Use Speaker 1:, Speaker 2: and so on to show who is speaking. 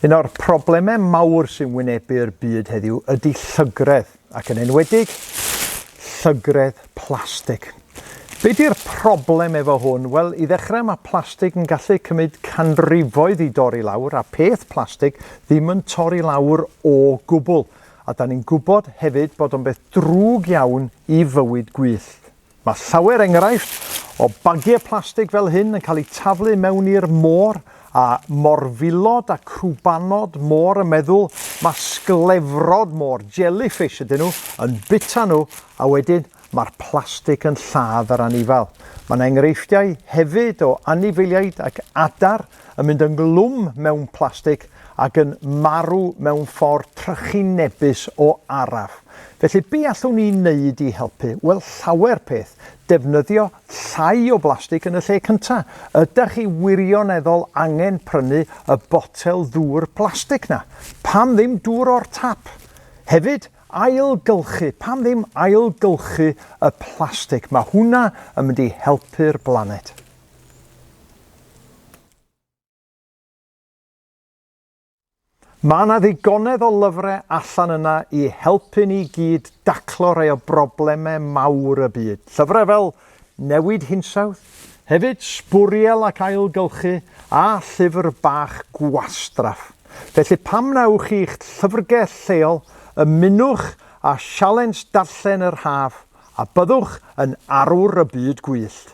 Speaker 1: Un o'r problemau mawr sy'n wynebu'r byd heddiw ydy llygredd, ac yn enwedig llygredd plastig. Be di'r problem efo hwn? Wel, i ddechrau mae plastig yn gallu cymryd canrifoedd i dorri lawr a peth plastig ddim yn torri lawr o gwbl. A 'dan ni'n gwybod hefyd bod o'n beth drwg iawn i fywyd gwyllt. Mae llawer enghraifft o bagiau plastig fel hyn yn cael eu taflu mewn i'r môr, a morfilod a crwbanod môr yn meddwl ma' sglefrod môr, jellyfish ydyn nhw, yn bita nhw, a wedyn mae'r plastig yn lladd yr anifail. Mae'n enghreifftiau hefyd o anifeiliaid ac adar yn mynd yn glwm mewn plastig ac yn marw mewn ffordd trychinebus o araf. Felly, be allwn ni wneud i helpu? Wel, llawer peth. Defnyddio llai o blastig yn y lle cynta. Ydach chi wirioneddol angen prynu y botel ddŵr plastig 'na? Pam ddim dŵr o'r tap? Hefyd, ailgylchu. Pam ddim ailgylchu y plastig? Mae hwnna yn mynd i helpu'r blaned. Mae 'na ddigonedd o lyfrau allan yna i helpu ni gyd daclo rhai o broblemau mawr y byd. Llyfrau fel Newid Hinsawdd, hefyd Sbwriel ac Ailgylchu a llyfr bach gwastraff. Felly pam na ewch i'ch llyfrgell lleol, ymunwch â sialens darllen yr haf a byddwch yn arwr y byd gwyllt.